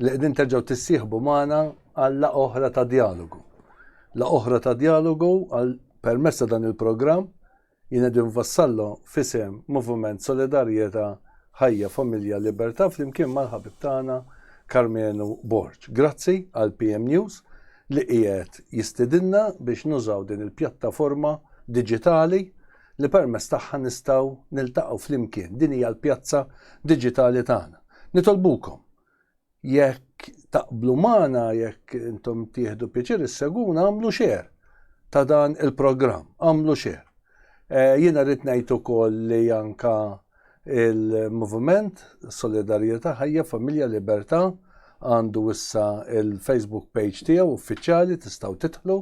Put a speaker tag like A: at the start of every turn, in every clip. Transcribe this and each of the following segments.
A: li qegħdin terġgħu tissieħbu magħna għal la oħra ta' dialogu. La oħra ta' dialogu għal permessa dan il-programm jien qegħdin vassallu fisem Moviment Solidarjetà Ħajja Familja Libertà flimkien mal-ħabib tagħna Karmenu Borg. Grazzi għal PM News li qiegħed jistidinna biex nużaw din il-pjattaforma diġitali li permess tagħha nistgħu niltaqgħu flimkien. Din hija l-pjazza diġitali tagħna. Nitolbukom, jekk taqblu magħna, jekk intom tieħdu pjaċir isseguna, għamlu xer ta' dan il-programm, għamlu xer. Eh, jiena rrid ngħid ukoll li anka il-Moviment Solidarjetà Ħajja Familja Libertà għandu issa il-Facebook page tiegħu uffiċjali tistgħu titħlu,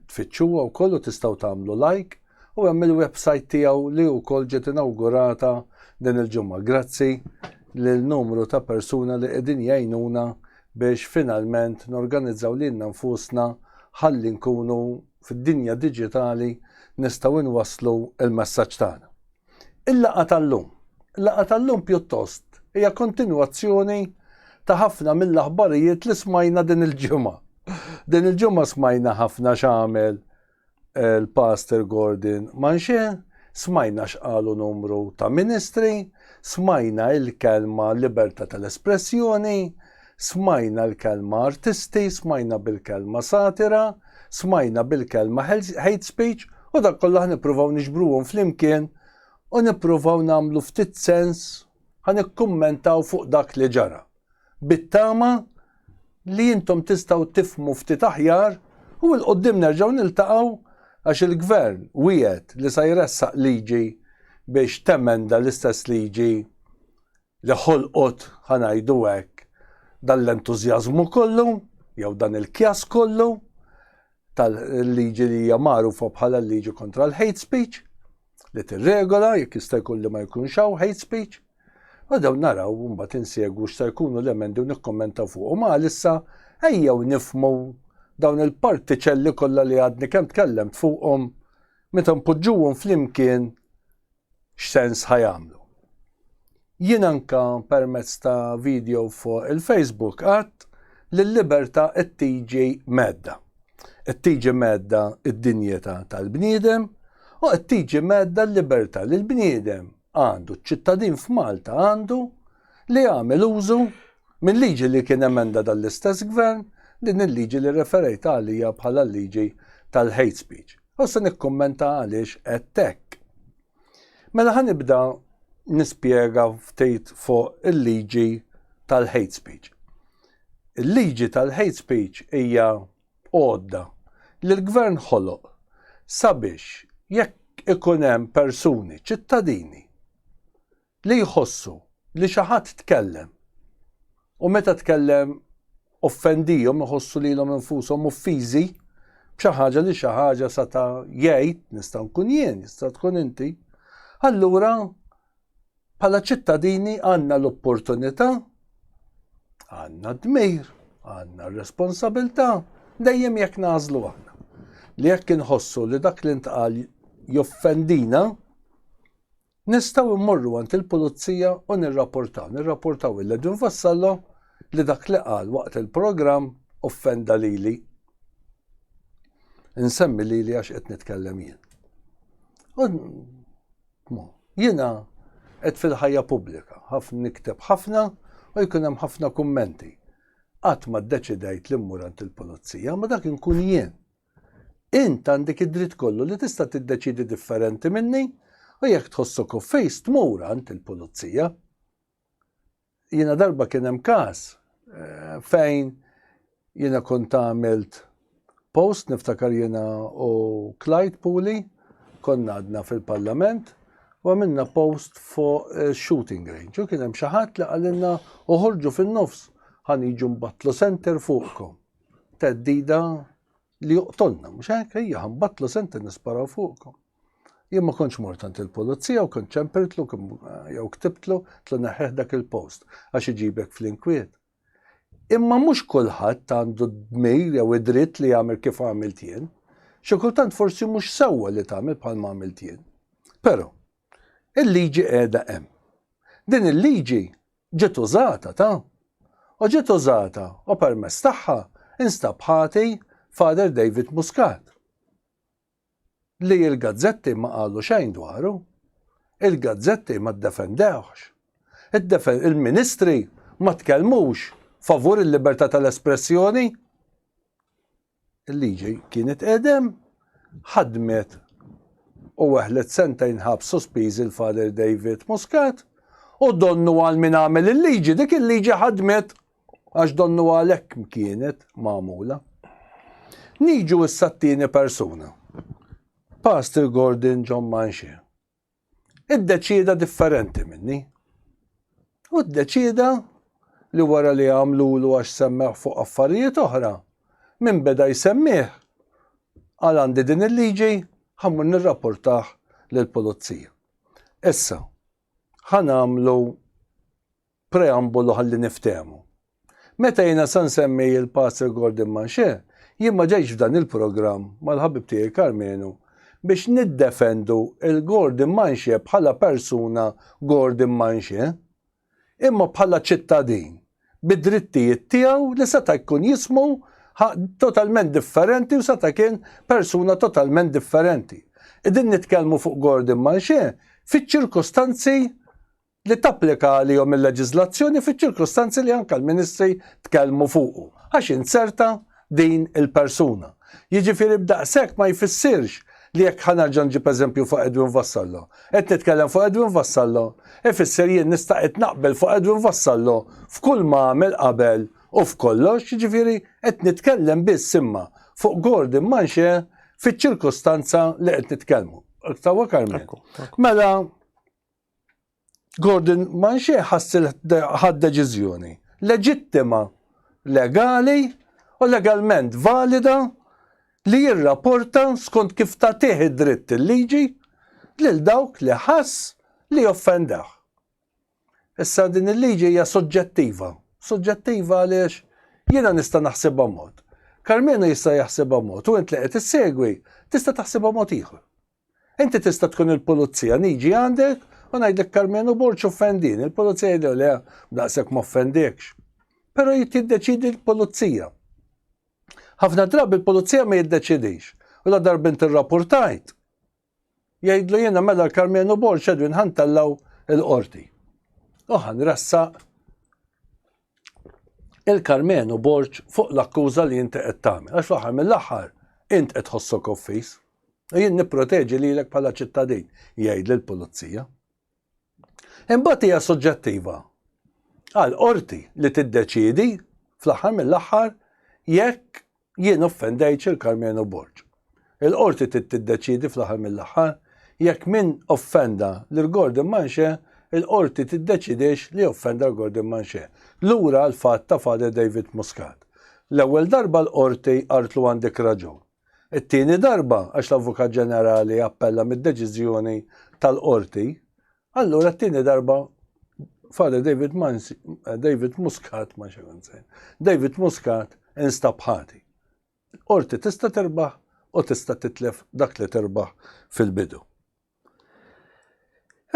A: tfittxuha wkoll u tistgħu tagħmlu like U hemm il-website tiegħu li wkoll ġiet inawgurata din il-ġimgħa grazzi lil numru ta' persuna li qegħdin jgħinuna biex finalment norganizzaw lilna nfusna ħalli nkunu fid-dinja diġitali nistgħu nwasslu l-messaġġ tagħna. Il-laqgħa tal-lum. Il-laqgħa tal-lum pjuttost hija kontinwazzjoni ta' ħafna mill-aħbarijiet li smajna din il-ġimgħa. Din il-ġimgħa smajna ħafna x'għamel l-Pastor Gordon Manche, smajna x'qalu numru ta' ministri, smajna il-kelma libertà tal-espressjoni, smajna l-kelma artisti, smajna bil-kelma satira, smajna bil-kelma hate speech u dak kollha ħnippruvaw niġbruhom flimkien u nippruvaw nagħmlu ftit sens, ħa nikkummentaw fuq dak li ġara. bit-tama li intom tistaw tifmu ftit aħjar u l-qoddim nerġaw niltaqaw għax il-gvern wiet li sa jressaq liġi biex temenda l-istess liġi li ħolqot ħanajdu hekk dan l-entużjażmu kollu jew dan il-kjass kollu tal-liġi li hija magħrufa bħala l-liġi kontra l-hate speech li tirregola jekk jista' jkun li ma jkunx hawn hate speech. U daw naraw mbagħad insegwu x'sa jkunu l-emendi u nikkommenta fuq. U ma issa ejjew nifmu dawn il-partiċelli kollha li għadni kemm tkellemt fuqhom meta npoġġuhom flimkien x'sens ħa jagħmlu. Jien anka permezz ta' video fuq il-Facebook għadt li l-libertà qed tiġi medda. Qed tiġi medda d-dinjità tal-bniedem u qed tiġi medda l-libertà li l-bniedem għandu ċ-ċittadin f'Malta għandu li għamel użu minn liġi li kien emenda dal-istess gvern din il-liġi li referejt għalija bħala liġi tal-hate speech. U se nikkummenta għaliex qed hekk. Mela ħa nibda nispjega ftit fuq il-liġi tal-hate speech. Il-liġi tal-hate speech hija għodda li l-gvern ħoloq sabiex jekk ikun hemm persuni ċittadini Li jħossu li xi ħadd tkellem u meta tkellem offendihom iħossu lilhom infushom uffiżi b'xi ħaġa li xi ħaġa seta' jgħid, nista' nkun jien, jista' tkun inti, allura bħala ċittadini għandna l-opportunità, għandna d-dmir, għandna r-responsabilità, dejjem jekk nagħżlu aħna. Li jekk inħossu li dak li ntqal joffendina, Nistgħu mmorru għand il-pulizija u nirrapportaw, nirrapportaw lil Edwin Vassallo li dak li qal waqt il-programm offenda lili. Insemmi lili għax qed nitkellem jien. Jiena qed fil-ħajja pubblika, ħafna nikteb ħafna u jkun hemm ħafna kummenti. Qatt ma ddeċidejt li mmur għand il-pulizija, ma dak inkun jien. Int għandek id-dritt kollu li tista' tiddeċiedi differenti minni u jekk tħossok offeż tmur għand il-pulizija. Jiena darba kien hemm każ eh, fejn jiena kont għamilt post niftakar jiena u Clyde Puli konna għadna fil-parlament u għamilna post fuq eh, shooting range u kien hemm xi ħadd li qalilna uħorġu fin-nofs ħan jiġu mbattlu center fuqkom. teddida li joqtolna, mhux hekk hija ħambatlu senti nisparaw fuqkom. Jien ma kontx mort għand il-pulizija u kont ċempirtlu jew ktibtlu tlu neħħeħ dak il-post għax iġibek fl-inkwiet. Imma mhux kulħadd għandu d-dmir jew id-dritt li jagħmel kif għamilt jien. Xi kultant forsi mhux sewwa li tagħmel bħal ma għamilt jien. Però, il-liġi qiegħda hemm. Din il-liġi ġiet użata ta' u ġiet użata u permezz tagħha instab ħati Father David Muscat li l-gazzetti ma qalu xejn dwaru, il-gazzetti ma ddefendewhx, il-ministri ma tkellmux favur il-libertà tal-espressjoni. Il-liġi kienet qedem, ħadmet u weħlet sentejn ħabs sospiżi l-Father David Muscat u donnu għal min għamel il-liġi, dik il-liġi ħadmet għax donnu għal hekk kienet magħmula. Niġu issa t-tieni persuna. Pastor Gordon John Manxie. iddeċieda differenti minni. U ddeċieda li wara li għamlulu għax semmeħ fuq affarijiet oħra, minn beda jsemmih għal għandi din il-liġi ħammur nirrapportah lill-pulizija. Issa, ħanamlu Preambolu ħalli niftehmu. Meta jiena sa nsemmi l-Pastor Gordon Manche, jien ma ġejtx f'dan il-programm mal-ħabib tiegħi Karmenu biex niddefendu l-Gordon Manche bħala persuna Gordon Manche, imma bħala ċittadin bid-drittijiet tiegħu li seta' jkun jismu totalment differenti u seta' kien persuna totalment differenti. Qegħdin nitkellmu fuq Gordon Manche fiċ-ċirkustanzi li tapplika għalihom il-leġiżlazzjoni fiċ-ċirkustanzi li anke l-Ministri tkellmu fuqu, għax inzerta din il-persuna. Jiġifieri b'daqshekk ma jfissirx li jekk ħa nerġa' nġib eżempju fuq Edwin Vassallo, qed nitkellem fuq Edwin Vassallo, ifisser jien nista' qed naqbel fuq Edwin Vassallo f'kull ma għamel qabel u f'kollox, jiġifieri qed nitkellem biss imma fuq Gordon Manche fiċ-ċirkustanza li qed nitkellmu. Tawa Carmen. Mela, Gordon Manxie ħass ħad deċiżjoni leġittima, legali u legalment valida li jirrapporta skont kif tagħtih id-dritt il-liġi lil dawk li ħass li joffendew. Issa din il-liġi hija soġġettiva. Soġġettiva għaliex jiena nista' naħsibha mod. Karmenu jista' jaħsibha mod u int li qed issegwi tista' taħsibha mod ieħor. Inti tista' tkun il-pulizija, niġi għandek u ngħidlek Karmenu Borg offendini, il-pulizija jgħidlu le, daqshekk m'offendekx. Però jiddeċidi l-pulizija. Ħafna drabi l-pulizija ma jiddeċidix. U la darba inti rrapportajt, jgħidlu jiena mela l-Karmenu Borg Edwin ħantellaw il-qorti. U ħanressaq il-Karmenu Borg fuq l-akkuża li inti qed tagħmel, għax fl-aħħar mill-aħħar int qed tħossok offiż u jien nipproteġi lilek bħala ċittadin, jgħid lill-Pulizija. Imbagħad hija suġġettiva għall-qorti li tiddeċiedi fl-aħħar mill-aħħar jekk Jien offendejt Sir Karmenu Borg. Il-Qorti trid tiddeċiedi fl-aħħar mill-aħħar jekk min offenda lil Gordon Manche il-Qorti tiddeċidiex li offenda lil Gordon Manche. Lura l-fatt ta' Father David Muscat. L-ewwel darba l-Qorti qaltlu għandek raġun. It-tieni darba għax l-Avukat Ġenerali appella mid-deċiżjoni tal-Qorti Allura t-tieni darba Father David Mansi, eh, David Muscat, ma xekanzajn, David Muscat instab ħati. Orti tista terbaħ u tista titlef dak li terbaħ fil-bidu.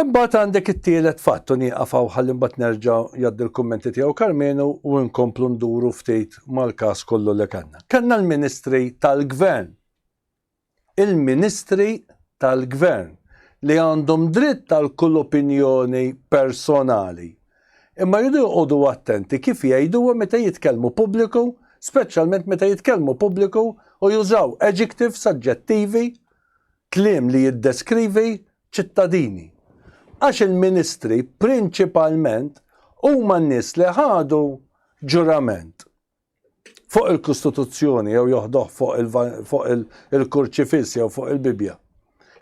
A: Imbagħad għandek it-tielet fatt u nieqafaw ħalli mbagħad nerġa' jgħaddi l-kummenti tiegħu Karmenu u nkomplu nduru ftit mal-każ kollu li kellna. Kellna l-Ministri tal-Gvern il-ministri tal-gvern li għandhom dritt għal kull opinjoni personali imma jridu joqogħdu attenti kif jgħiduha meta jitkellmu pubbliku speċjalment meta jitkellmu pubbliku u jużaw adjectives, aġġettivi, kliem li jiddeskrivi ċittadini. Għax il-ministri prinċipalment huma n-nies li ħadu ġurament. fuq il-Kostituzzjoni jew joħdoh fuq il-kurċifiss jew fuq il-Bibja.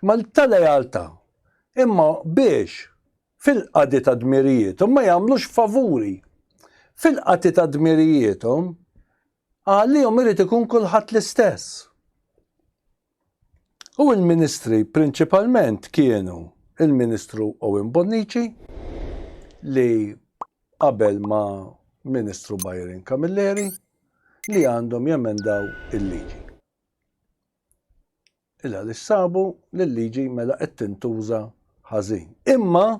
A: Ma ta' lealtà, imma biex fil-qadi ta' dmirijietom ma jagħmlux favuri. Fil-qati ta' dmirijietom għalihom irid ikun kulħadd l-istess. U l-Ministri prinċipalment kienu il-Ministru Owen Bonnici li qabel ma' Ministru Byron Camilleri li għandhom jemendaw il-liġi. Il għaliex sabu li l-liġi mela qed tintuża ħażin. Imma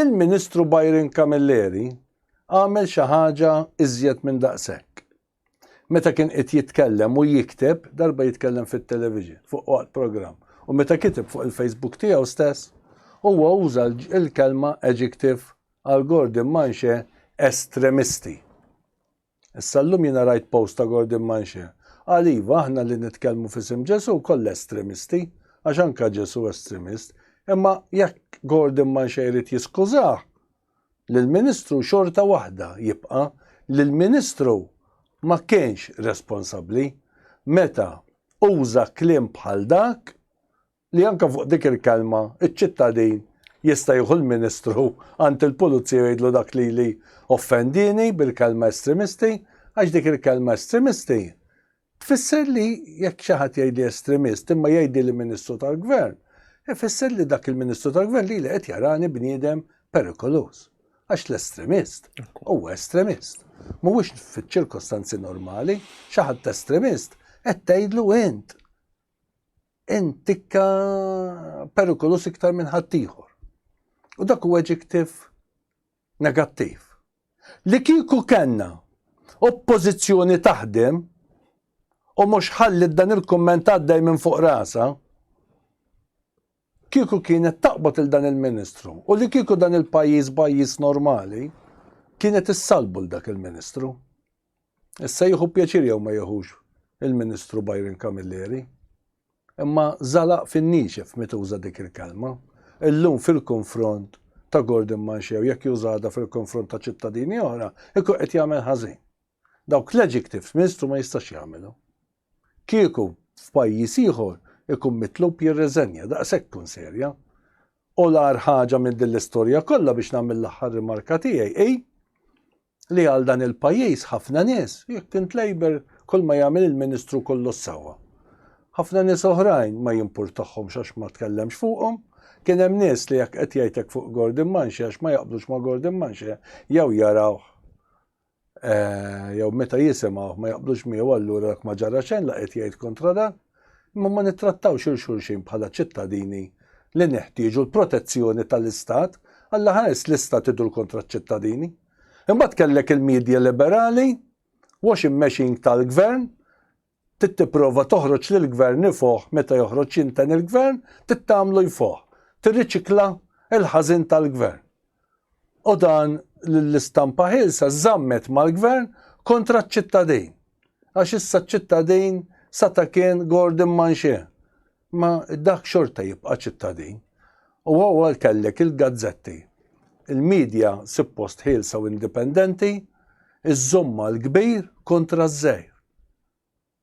A: il-Ministru Byron Camilleri għamel xi ħaġa iżjed minn daqshekk. Meta kien qed jitkellem u jikteb, darba jitkellem fit-television, fuq waqt programm, u meta kiteb fuq il-Facebook tiegħu stess, huwa uża l-kelma, adjective, għal Gordon Manche estremisti. Issa llum jiena rajt post ta' Gordon Manche. Qal iva aħna li nitkellmu f'isem Ġesu koll estremisti, għax anka Ġesu estremist, imma jekk Gordon Manche jrid jiskużah, lill-Ministru xorta waħda jibqa' li l-Ministru ma kienx responsabbli meta uża kliem bħal dak li anke fuq dik il-kelma ċ-ċittadin jista' jieħu l-Ministru għand il-Pulizija u jgħidlu dak lili offendieni bil-kelma estremisti għax dik il-kelma estremisti Tfisser li jekk xi ħadd jgħidli estremist imma jgħidli li Ministru tal-Gvern, ifisser li dak il-Ministru tal-Gvern lili qed jarani bniedem perikoluż. Għax l-estremist huwa estremist. Mhuwiex fiċ-ċirkostanzi normali, xi ħadd estremist qed tgħidlu int. Int tikka perikoluż iktar minn ħaddieħor. U dak huwa adjective negattiv. Li kieku kellna Oppożizzjoni taħdem u mhux ħalliet dan il-kumment għaddej minn fuq rasha, kieku kienet taqbad il dan il-Ministru u li kieku dan il-pajjiż pajjiż normali, kienet issalbu l dak il-Ministru. Issa jieħu pjaċir jew ma jieħux il-Ministru Byron Camilleri, imma żalaq fin-niexef meta uża dik il-kelma, illum fil-konfront ta' Gordon Manxew jekk jużada fil-konfront ta' ċittadini oħra, ikun qed jagħmel ħażin. Dawk l-adjectives Ministru ma jistax jagħmilhom. Kieku f'pajjiż ieħor ikun mitlub jirreżenja daqshekk tkun serja. U l-ar ħaġa minn din l-istorja kollha biex nagħmel l-aħħar rimarka tiegħi hi li għal dan il-pajjiż ħafna nies, jekk int Labour kull ma jagħmel il-Ministru kollu s-sewwa. Ħafna nies oħrajn ma jimpurtahomx għax ma tkellemx fuqhom, kien hemm nies li jekk qed jgħid hekk fuq Gordon Manche għax ma jaqblux ma' Gordon Manche jew jarawh eh, jew meta jisimgħuh ma jaqblux miegħu allura dak ma ġara xejn la qed jgħid kontra dan. imma ma nittrattawx il xulxin bħala ċittadini li neħtieġu l-protezzjoni tal-Istat, Alla ħares l-Istat idur kontra ċ-ċittadini. Imbagħad kellek il-media liberali, washing machine tal-gvern, trid tipprova toħroġ lill-gvern ifoħ meta joħroġ jinten il-gvern, trid tagħmlu jfoħ, tirriċikla l-ħażin tal-gvern. u dan l-istampa ħilsa żammet mal-gvern kontra ċ-ċittadin. Għax issa ċ-ċittadin sa ta' kien Gordon Manxie. Ma dak xorta jibqa' ċittadin. U għal kellek il-gazzetti. Il-medja suppost ħilsa u indipendenti, iż-żomma l-kbir kontra ż-żejr.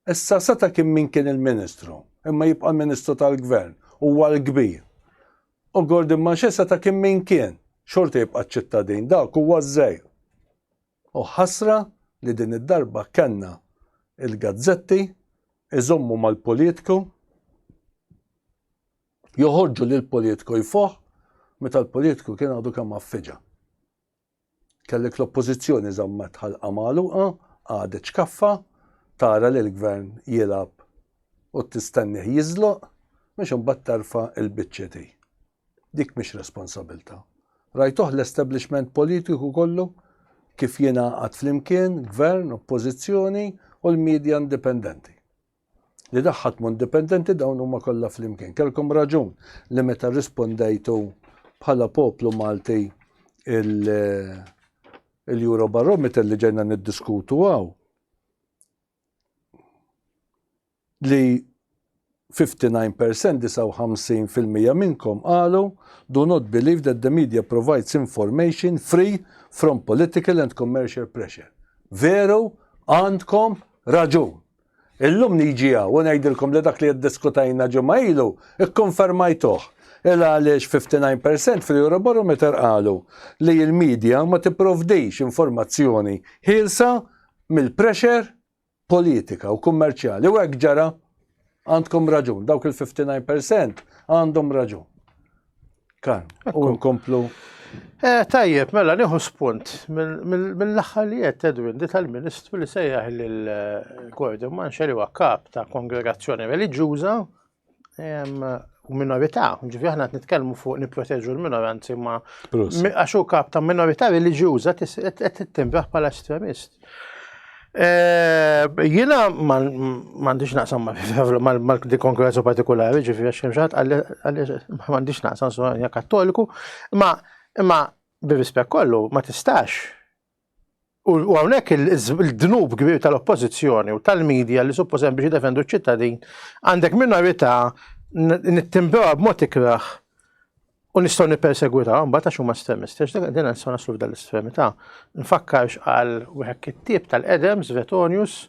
A: Issa seta' kien min kien il-Ministru, imma jibqa' l-Ministru tal-Gvern, huwa l-kbir. U Gordon Mache seta' kien min kien, xorta jibqa' ċ-ċittadin, dak huwa ż-żgħir. U ħasra li din id-darba kellna il-gazzetti iżommu mal-politku, joħorġu lill-politku jfoħħ meta l-politku kien għadu kemm għaffiġa. Kellek l-Oppożizzjoni żammet ħalqha magħluqa, qagħdet xkaffa tara lill-Gvern jilgħab u tistennih jiżloq biex imbagħad terfa' l-biċċiet hi. Dik mhix responsabilità. Rajtuh l-establishment politiku kollu kif jingħaqad flimkien, Gvern, Oppożizzjoni u l-media indipendenti. li daħħaltmu indipendenti dawn huma kollha flimkien. Kelkom raġun li meta rrispondejtu bħala poplu Malti il-Eurobarometer li ġejna niddiskutu għaw li 59% 59% minnkom qalu do not believe that the media provides information free from political and commercial pressure. Veru għandkom raġun. Illum niġi hawn u ngħidilkom li dak li iddiskutejna ġimgħa ilu kkonfermajtuh. Ila għaliex 59 per cent fl-Eurobarometer qalu li l-media ma tipprovdix informazzjoni ħielsa mill-pressure politika u kummerċjali u hekk ġara. Għandkom raġun, dawk il-59 per cent għandhom raġun. Kan, u nkomplu. Eh, tajjeb,
B: mela nieħu spunt mill-aħħar li qed Edwin di tal-Ministru li sejjaħ lill-Gordon Manxeri huwa kap ta' kongregazzjoni reliġjuża u minorità, ġifi aħna qed nitkellmu fuq nipproteġu l-minoranzi ma għax hu kap ta' minorità reliġjuża qed tittimbraħ bħala estremist. Jina mandiġ naqsam mal-di konkurrenza partikolari, ġifi għax xemxat, għalli mandiġ naqsam s-għanja kattoliku, ma imma bir-rispett kollu ma tistax. U għawnek il-dnub kbir tal-oppozizjoni u tal-medja li supposen biex defendu ċittadin, għandek minorita nittimbewa b-mot ikraħ U nistgħu nippersegwitaw mbagħad għax huma estremisti, għax dak din nistgħu naslu f'dan l-estremità. Nfakkarx għal wieħed kittieb tal-qedem Svetonius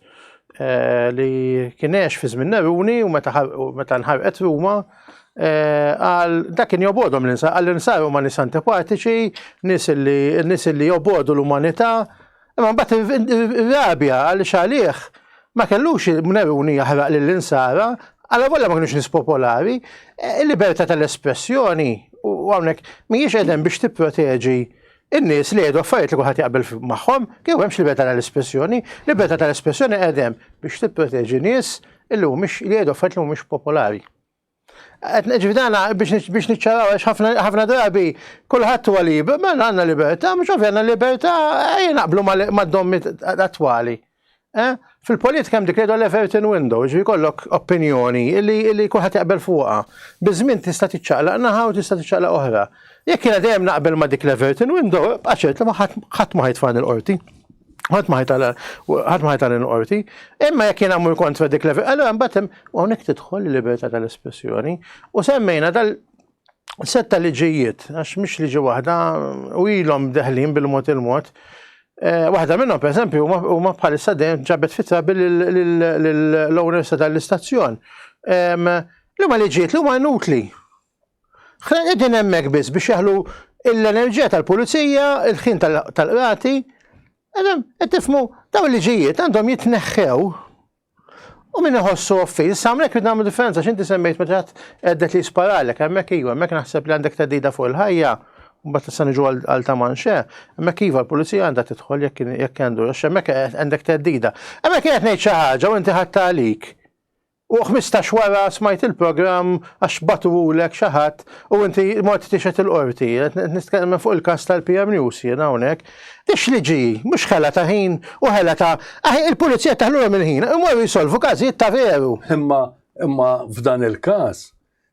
B: eh, li kien għex fi żmien Neruni u meta nħarqet Ruma Eh, għal dak kien jobodhom l-insa, għal insa huma nis antipatiċi, nis li jobodu l-umanità, Imma mbagħad irrabja għaliex għalih ma kellux Neruni jaħraq lill-insara, għala volja ma kinux nies popolari, e, il-libertà tal-espressjoni u hawnhekk mhijiex qegħdem biex tipproteġi in-nies li jgħidu affarijiet li kulħadd jaqbel magħhom, kieku hemmx libertà tal-espressjoni, libertà tal-espressjoni qegħdem biex tipproteġi nies li mhumiex li jgħidu affarijiet li mhumiex popolari. Ġifieri dana biex niċċaraw għax ħafna drabi kulħadd huwa liber, mela għandna libertà, mhux ovvja għandna libertà ejja naqblu mad-dommi attwali. Eh? Fil-politika hemm dik li l-Everton window, ġifieri kollok opinjoni li kulħadd jaqbel fuqha. Biż-żmien tista' tiċċaqlaq naħa u tista' tiċċaqlaq oħra. Jekk jiena dejjem naqbel ma' dik l-Everton window, bqaċert li ħadd ma ħajtfani l-qorti. Ħadd ma ħajtala, ħadd ma ħajtala l-qorti, imma jekk jien għamur kontra dik level, allora mbagħad hemm hawnhekk tidħol il-libertà tal-espressjoni u semmejna tal setta liġijiet, għax mhix liġi waħda u ilhom deħlin bil-mod il-mod. Eh, waħda minnhom pereżempju huma bħalissa dejjem ġabet fitra bil-owners tal-istazzjon. Li ma liġijiet li huma inutli. Qegħdin hemmhekk biss biex jaħlu l-enerġija tal-pulizija, il-ħin tal-qrati, qed tifmu dawn il-liġijiet għandhom jitneħħew U minn iħossu offi, samlek id nagħmlu differenza x'inti semmejt meta għeddet li sparalek, hemmhekk iva, hemmhekk naħseb li għandek tedida fuq il-ħajja, mbagħad tista' niġu għal ta' manxe, hemmhekk iva l-pulizija għandha tidħol jekk jekk għandu, għax hemmhekk għandek tedida. Hemmhekk qed ngħid xi ħaġa u inti ħadd għalik. U ħmistax wara smajt il-programm għax bagħtuhulek xi ħadd u inti mort tixhed il-Qorti. Qed nitkellem fuq il-każ tal-PM News jien hawnhekk. Ix li ġie, mhux ħela ta' ħin u ħela ta' aħ il-Pulizija teħlulhom il-ħin, imorru jsolvu każijiet ta' veru. Imma imma
A: f'dan il-każ,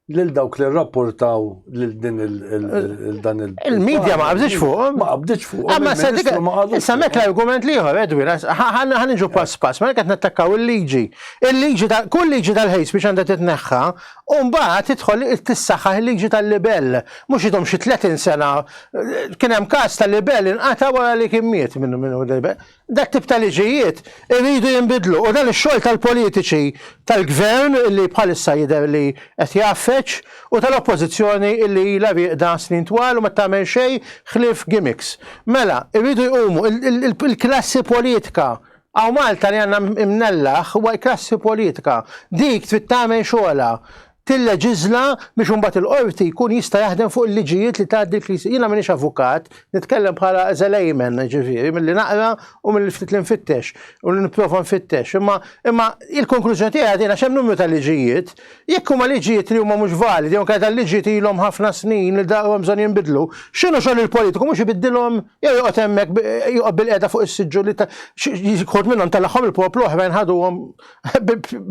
A: lil dawk li rrapportaw lil din il-dan il- Il-medja ma
B: qabditx fuqhom. Ma qabditx fuqhom. Imma
A: se dik issa mek l-argument
B: li ieħor Edwin, ħa niġu pass pass, mela qed nattakkaw il-liġi. Il-liġi ta' kull liġi tal-hate speech għandha titneħħa u mbagħad tidħol tissaħħaħ il-liġi tal-libell. Mhux idhom xi 30 sena kien hemm każ ta' libell inqata' wara li kien miet minn Dak tip ta' liġijiet iridu jinbidlu u dan ix-xogħol tal-politiċi tal-Gvern li bħalissa jidher li qed jgħaffeġ u tal-Oppożizzjoni li ilha rieqda snin twal u ma tagħmel xejn ħlief gimmicks. Mela, iridu jqumu, il-klassi politika, hawn Malta li għandna imnellaħ huwa l-klassi politika, dik trid tagħmel xogħolha, tilleġiżla biex imbagħad il-qorti jkun jista' jaħdem fuq il-liġijiet li tgħaddi l-Knisja. Jiena m'iniex avukat, nitkellem bħala as a layman, jiġifieri, milli naqra u milli ftit li nfittex u li nipprova nfittex. Imma imma il-konklużjoni tiegħi għadin għax hemm numru ta' liġijiet, jekk huma liġijiet li huma mhux validi jew inkella dal-liġijiet ilhom ħafna snin li daqru hemm bżonn jinbidlu, x'inhu xogħol il-politiku mhux ibiddilhom jew joqgħod hemmhekk joqgħod bilqiegħda fuq is-siġġu li ta' xi wħud minnhom telagħhom il-poplu oħrajn ħaduhom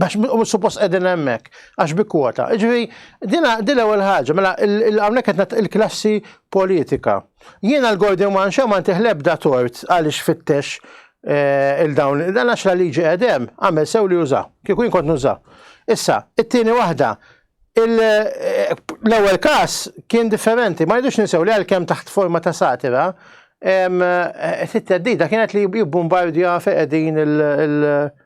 B: Bax u suppost qegħdin hemmhekk għax bi kwota. Ġifieri din din ewwel ħaġa, mela hawnhekk qed il-klassi politika. Jiena l-Gordon Manxa ma ntih lebda tort għaliex fittex eh, il-dawn, dan għax la liġi qegħdem għamel sew li juża, kieku jien kont nuża. Issa, it-tieni waħda, eh, l-ewwel każ kien differenti, ma jidux ninsew li għalkemm taħt forma ta' satira, eh, it-teddida kienet li jibbombardja feqedin il-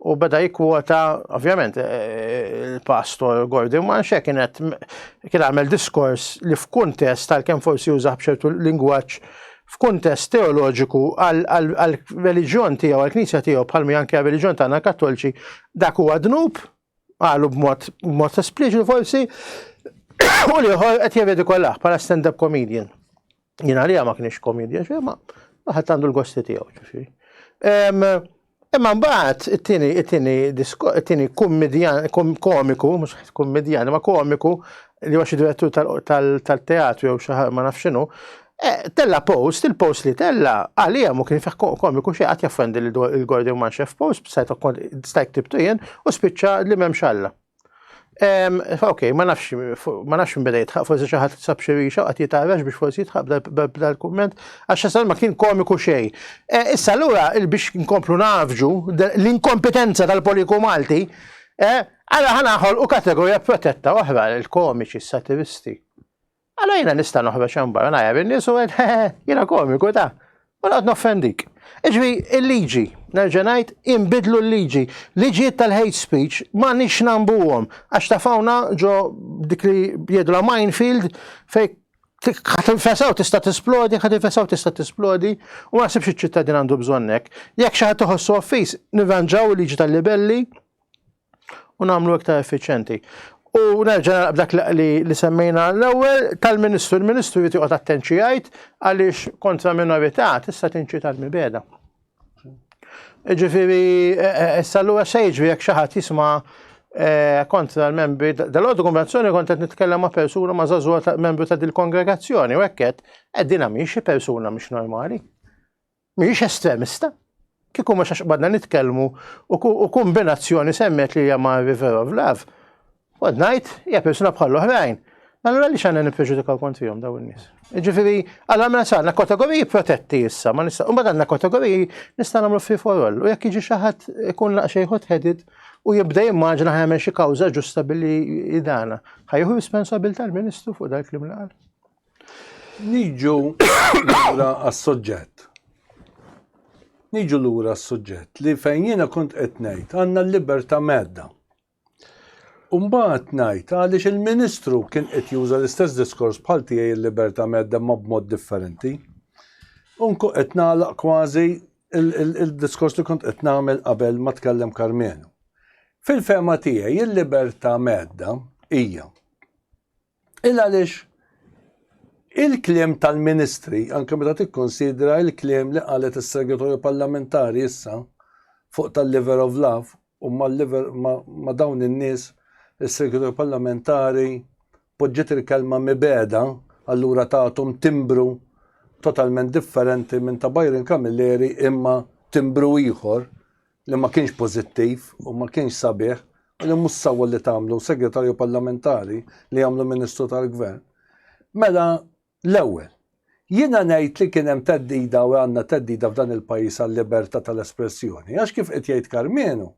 B: U beda jikkwota, ovvjament, eh, eh, il-pastor Gordon Manxa kien kien għamel diskors li f'kuntest tal kem forsi użaħ b'ċertu lingwaġġ f'kuntest teoloġiku għal-reliġjon tiegħu, għal-knisja tiegħu bħalmi anke għal-reliġjon tagħna kattolċi, dak huwa dnub, għalu b'mod espliċitu forsi, u liħor qed jevedikolah bħala stand-up comedian. Jien għalija ma kienx komedja xejn, ma waħed għandu l-gosti tiegħu ġifieri. Imma mbagħad it-tieni it-tieni it-tieni kummedjan komiku, mhux kummedjan, ma komiku li huwa xi direttur tal-teatru jew xi ma nafx x'inhu, eh, tella post, il-post li tella għalija mu kien fih komiku xi qatt jaffendi l-Gordon Manxef post, stajt ktibtu jien u spiċċa li m'hemmx Alla. Ok, ma nafx, ma nafx minn beda jitħaq, forsi xaħat sab xirixa għat jitarax biex forsi jitħaq dal-komment, għax ma kien komiku xej. E, issa l-ura biex nkomplu nafġu l-inkompetenza tal-poliku Malti, e, għala ħanaħol u kategorija protetta oħra l-komiċi, s-satiristi. Allora jiena nista' noħroġ hemm barra ngħajjar in-nies u għed jiena komiku ta' u noqgħod noffendik. Iġri il-liġi, nerġa' ngħid inbidlu l-liġi. Liġijiet tal-hate speech ma nix nambuhom għax ta' fawna ġo dik li jgħidu la minefield fej ħat infesaw tista' tisplodi, ħat infesaw tista' tisplodi, u ma nasibx iċ-ċittadin għandu bżonnek. Jekk xi ħadd iħossu offis, nirranġaw il-liġi tal-libelli, u nagħmlu iktar effiċjenti. U nerġa' nagħlaq b'dak li semmejna l-ewwel tal-Ministru, il-Ministru jrid joqgħod attent xi jgħid għaliex kontra minorità tista' tinċita l-mibeda. Ġifieri e, e, issa lura se jiġri jekk xi ħadd jisma' e, kontra l-membri dal-għodu konvenzjoni kont qed nitkellem ma' persuna ma' żagħżugħa membru ta' dil-kongregazzjoni u hekk qed qegħdin xi persuna mhix normali. Mhijiex estremista. Kieku mhux għax qbadna nitkellmu u kombinazzjoni semmet li hija ma' River of Love, kont ngħid hija persuna bħal oħrajn. Allura għaliex għandna nippreġudikaw kontrihom daw in-nies? Ġifieri, allura mela sa għandna kategoriji protetti issa, ma nista' u mbagħad għandna kategoriji nista' nagħmlu free for all. U jekk jiġi xi ħadd ikun naqxej hot headed u jibda jimmaġina ħajmel xi kawża ġusta billi idana. Ħajħu responsabilità l-Ministru fuq dak li mlaqal.
A: Niġu lura għas-soġġett. Niġu lura għas-soġġett li fejn jiena kont qed ngħid għandna l-libertà medda. Umbagħad ngħid għaliex il-Ministru kien qed juża l-istess diskors bħal tiegħi l-libertà medda ma b'mod differenti. Unku qed nagħlaq kważi il-diskors li kont qed nagħmel qabel ma tkellem Karmenu. Fil-fema tiegħi il-libertà medda hija Il għaliex il-kliem tal-Ministri, anke meta tikkonsidra l-kliem li qalet is-Segretorju Parlamentari issa fuq tal-liver of love u ma' dawn in-nies is-Segretorju Parlamentari poġġiet il-kelma mibegħda allura tathom timbru totalment differenti minn ta' Byron Camilleri imma timbru ieħor li ma kienx pożittiv u ma kienx sabiħ u li mhux sewwa li tagħmlu Segretarju Parlamentari li jagħmlu Ministru tal-Gvern. Mela l-ewwel, jiena ngħid li kien hemm theddida u għandna theddida f'dan il-pajjiż għal-libertà tal-espressjoni għax kif qed jgħid Karmenu,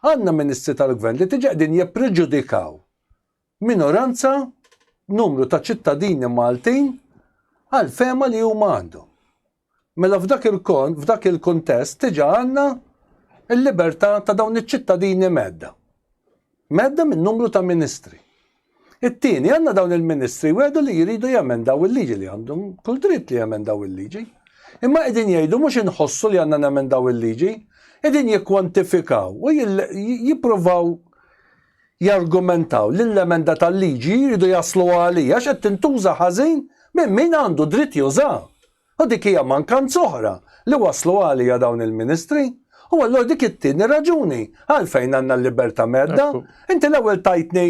A: għandna Ministri tal-Gvern li tiġa qegħdin jippreġudikaw minoranza, numru ta' ċittadini Maltin għall-fehma li huma għandhom. Mela f'dak il-kon, f'dak il-kuntest, diġà għandna l-libertà ta' dawn iċ-ċittadini mhedda. Mhedda minn numru ta' ministri. It-tieni, għandna dawn il-ministri wegħdu li jridu jemendaw il-liġi li għandhom kull dritt li jemendaw il-liġi. Imma qegħdin jgħidu mhux inħossu li għandna nemendaw il-liġi, qegħdin jikkwantifikaw u jippruvaw jargumentaw li l-emenda tal-liġi jridu jasluha għalija għax qed tintuża ħażin minn min għandu dritt jużaha. U dik hija mankanza oħra li wassluha għalija dawn il-Ministri. U allura dik it-tieni raġuni għalfejn għandna l-libertà mhedda. Inti l-ewwel tajtni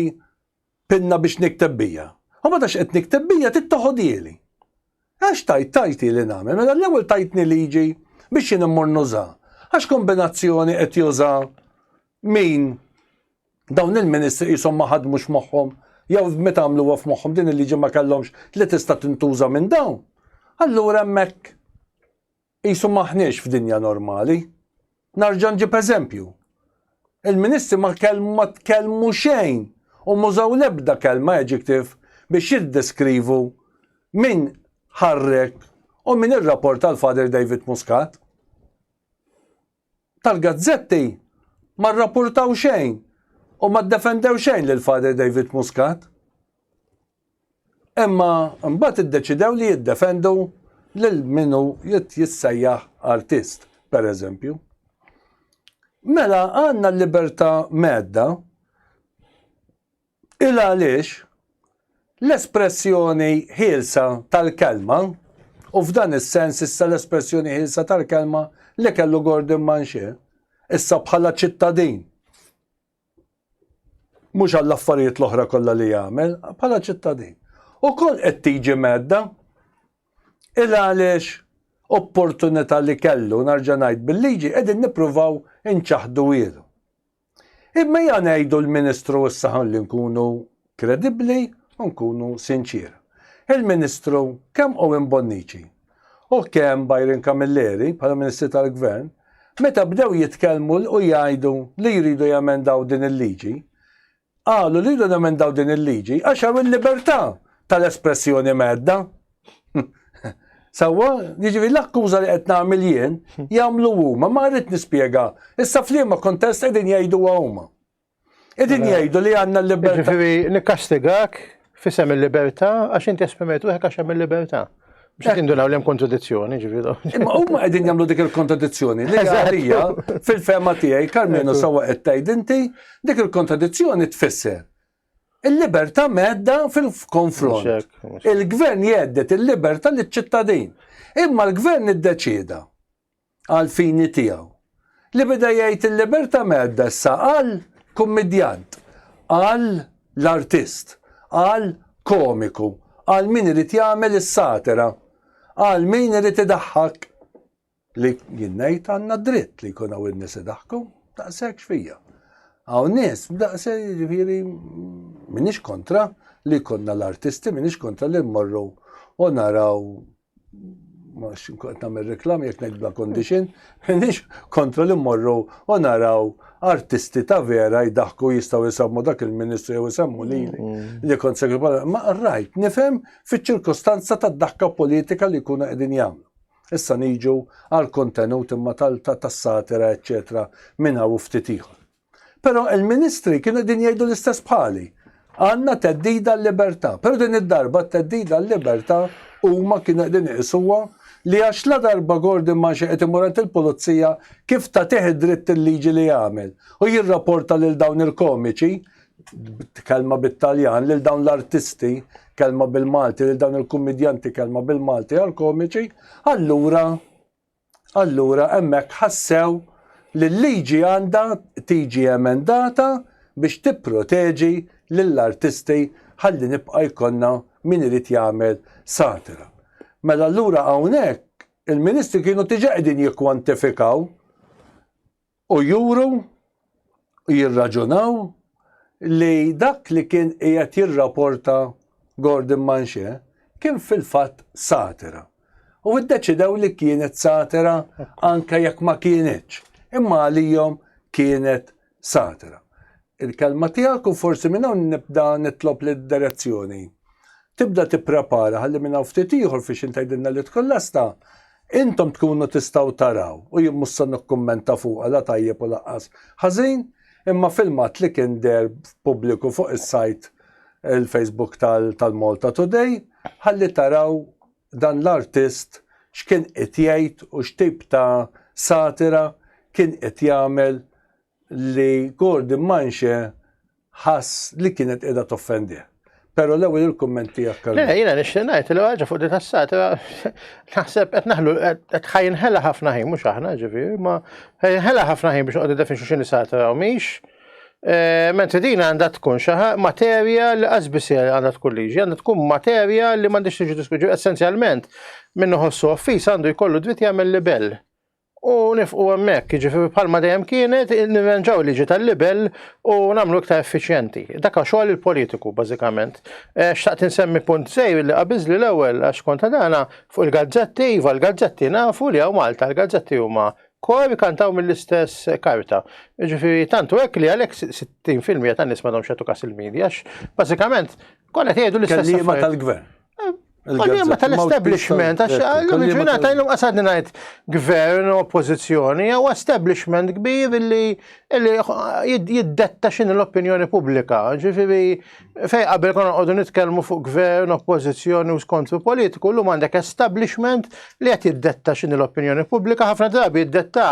A: pinna biex nikteb bija. U meta x'qed nikteb bija trid toħodhieli. Għax tajt tajti li nagħmel, mela l-ewwel tajtni liġi biex jien immur nuża. Għax kombinazzjoni qed juża Min? Dawn il-ministri qishom ma ħadmux moħħhom jew meta għamluha f'moħħhom din il-liġi ma kellhomx li tista' tintuża minn dawn? Allura hemmhekk qisu m'aħniex f'dinja normali. Narġa' nġib eżempju. Il-ministri ma tkellmu xejn u mużaw l-ebda kelma adjective biex jiddeskrivu min ħarrek u min irrapporta l-Father David Muscat. tal-gazzetti ma rrappurtaw xejn u ma ddefendew xejn lil Father David Muscat. Imma mbagħad iddeċidew li jiddefendu lil min hu jissejjaħ artist, pereżempju. Mela għandna l-libertà medda Il għaliex, l-espressjoni ħielsa tal-kelma, u f'dan is-sens issa l-espressjoni ħielsa tal-kelma li kellu Gordon Manché, issa bħala ċittadin, mhux għall-affarijiet l-oħra kollha li jagħmel, bħala ċittadin, ukoll qed tiġi mhedda. Il għaliex opportunità li kellu, narġa' ngħid, bil-liġi qegħdin nippruvaw inċaħħduhielu. Imma ejja ngħidu l-Ministru issa ħalli nkunu kredibbli u nkunu sinċier. Il-Ministru kemm Owen Bonnici u kemm Byron Camilleri bħala Ministri tal-Gvern meta bdew jitkellmu u jgħidu li jridu jemendaw din il-liġi, Qalu li jridu nemendaw din il-liġi għax hawn il-libertà tal-espressjoni mhedda. Sewwa, jiġifieri l-akkuża li qed nagħmel jien jagħmlu huma, ma rrid nispjega. Issa f'liema kuntest qegħdin jgħiduha huma. Qegħdin jgħidu li għandna l-libertà. Jiġifieri nikkastigak
B: Fisem il-libertà, għax inti esprimejt ruħek għax hemm il-libertà. Biex eh. tindunaw l-hemm kontradizzjoni, ġifiru. Imma huma qegħdin jagħmlu
A: dik il-kontradizzjoni. Għalija, fil-fema tiegħi, Karmenu sawa qed tgħid inti, dik il-kontradizzjoni tfisser. Il-libertà medda fil-konfront. Il-gvern jeddet il-libertà liċ-ċittadin. Imma l-gvern iddeċieda għall-fini tiegħu. Li beda jgħid il-libertà mgħedda issa għal kummedjant, għal l-artist, għal komiku, għal min irid jagħmel is-satira, għal min irid idaħħak li jinnejt għanna dritt li kuna u n-nis daħku, daqsek xfija. Għaw nis, daqse ġifiri, minix kontra li konna l-artisti, minix kontra li mmorru u naraw ma xinkuqt namel reklam jek nejt bla condition, nix kontra li morru u naraw artisti ta' vera jidaħku jistaw jisammu dak il-ministru jew jisammu li li kont segretarju. Ma rajt, nifem fi ċirkostanza ta' daħka politika li kuna edin jamlu. Issa niġu għal kontenut imma tal-satira, eccetera, minna u ftitiħor. Però il-Ministri kienu qegħdin jgħidu l-istess bħali. Għandna teddida l-libertà, però din id-darba t-teddida l-libertà huma kienu qegħdin iqisuha li għax la darba Gordon ma xi qed imur għand il-pulizija kif tagħtih id-dritt il-liġi li jagħmel u jirraporta lil dawn il-komiċi kelma bit-Taljan lil dawn l-artisti kelma bil-Malti lil dawn il-kummedjanti kelma bil-Malti għal komiċi allura Allura hemmhekk ħassew li l-liġi għandha tiġi emendata biex tipproteġi lill-artisti ħalli nibqa' jkollna min irid jagħmel satira. Mela allura hawnhekk il-Ministri kienu diġà qegħdin jikkwantifikaw U juru u jirraġunaw li dak li kien qiegħed jirraporta Gordon Manche kien fil-fatt satira. U iddeċidew li kienet satira anke jekk ma kienitx, imma għalihom kienet satira. il-kelma tiegħek u forsi minn hawn nibda nitlob li d-direzzjoni tibda tipprepara ħalli minn hawn ftit ieħor fiex intgħidilna li tkun lesta intom tkunu tistgħu taraw u jien mhux se nikkummenta fuqha la tajjeb u laqqas ħażin imma filmat li kien deher pubbliku fuq is-sajt il-Facebook tal-Malta Today ħalli taraw dan l-artist x'kien qed jgħid u x'tip ta' satira kien qed jagħmel li Gordon Manxe ħass li kienet qiegħda toffendih. Pero l-ewwel il-kumment tiegħek kallu. Le, jiena nixtieq ngħid
B: li ħaġa fuq di tassat naħseb qed naħlu qed ħajnħela ħafna ħin mhux aħna ġifieri, ma ħajnħela ħafna ħin biex qogħdu definxu x'inhi satra u mhix. Eh, mentri din għandha tkun xi materja li qasbis għandha tkun liġi, għandha tkun materja li m'għandix tiġi diskuġu essenzjalment minnu ħossu offis għandu jkollu dritt jagħmel libell. u nifqu hemmhekk, jiġifieri bħalma dejjem kienet nirranġaw liġi tal-libel u nagħmlu iktar effiċjenti. Dak xogħol il-politiku bażikament. Eh, xtaqt insemmi punt sejr li qabiżli l-ewwel għax konta dana fuq il-gazzetti, iva l-gazzetti nafu li hawn Malta l-gazzetti huma kor kantaw mill-istess karta. Ġifiri, tantu hekk li għalhekk 60% tan-nies ma domx kas il-medja, bażikament kollha jgħidu l-istess.
A: Kelliema
B: tal-gvern. Il-kelma tal-establishment, għax għallum il-ġurnata għallum għasadni najt gvern u oppozizjoni, għaw establishment kbir li jiddetta xin l-opinjoni publika. Ġifiri, fej qabel konna għodu nitkelmu fuq gvern, oppozizjoni u skontru politiku, l-lum għandek establishment li għet jiddetta xin l-opinjoni publika, ħafna drabi jiddetta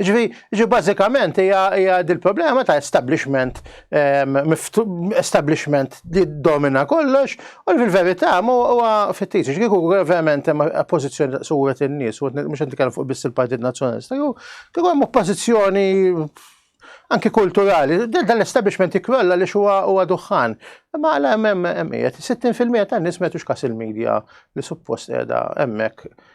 B: Ġifieri bażikament hija dil-problema ta' establishment ehm, establishment li domina kollox u fil-verità huwa fittiċi kieku verament hemm oppożizzjoni ta' suwet in-nies u mhux qed nitkellem fuq biss il-Partit Nazzjonalista. Kieku hemm oppożizzjoni anki kulturali, dal-establishment ikrolla li xuwa huwa duħħan. Ma għala hemm hemm 60% tan-nies metux kas il-medja li suppost qiegħda hemmhekk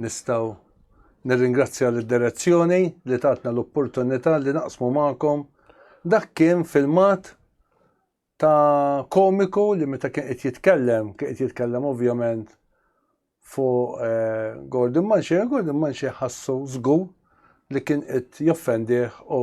A: Nistgħu nirringrazzja lid direzzjoni li tatna l-opportunità li naqsmu magħkom dak kien filmat ta' komiku li meta kien qed jitkellem, kien qed jitkellem ovvjament fuq eh, Gordon Manxie, Gordon Manxie ħassu żgur li kien qed joffendih u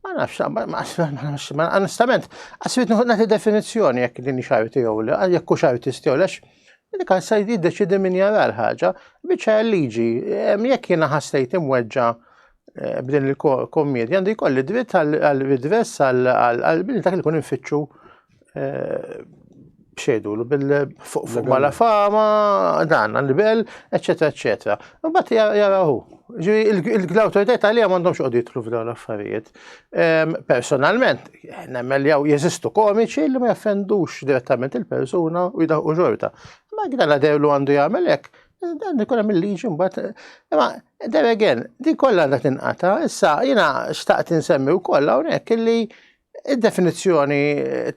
B: Ma nafx, ma onestament, għasbit nħu nagħti definizzjoni jekk din xajti jew le, jekk hu xajti jew lex, li kan se jiddeċidi min jara l-ħaġa, biċċa liġi, jekk jiena ħassejt imweġġa eh, b'din il-kommedja, għandi jkolli dritt għal-redress għal-bil dak li kun infittxu xejdu l fuq fuq ma la fama, dan, l-bel, eccetera, eccetera. Bat jarahu. L-autoritet għalija mandom xoqdi jitlu f'dawn l-affarijiet. Ehm, personalment, nemmel jaw jeżistu komiċi li ma jaffendux direttament il-persuna u jidaħu xorta. Ma għida la derlu għandu jgħamelek, dan ikun hemm il-liġi mbagħad. Imma there again, din kollha għandha tinqata, issa jiena xtaqt insemmi wkoll hawnhekk illi Id-definizzjoni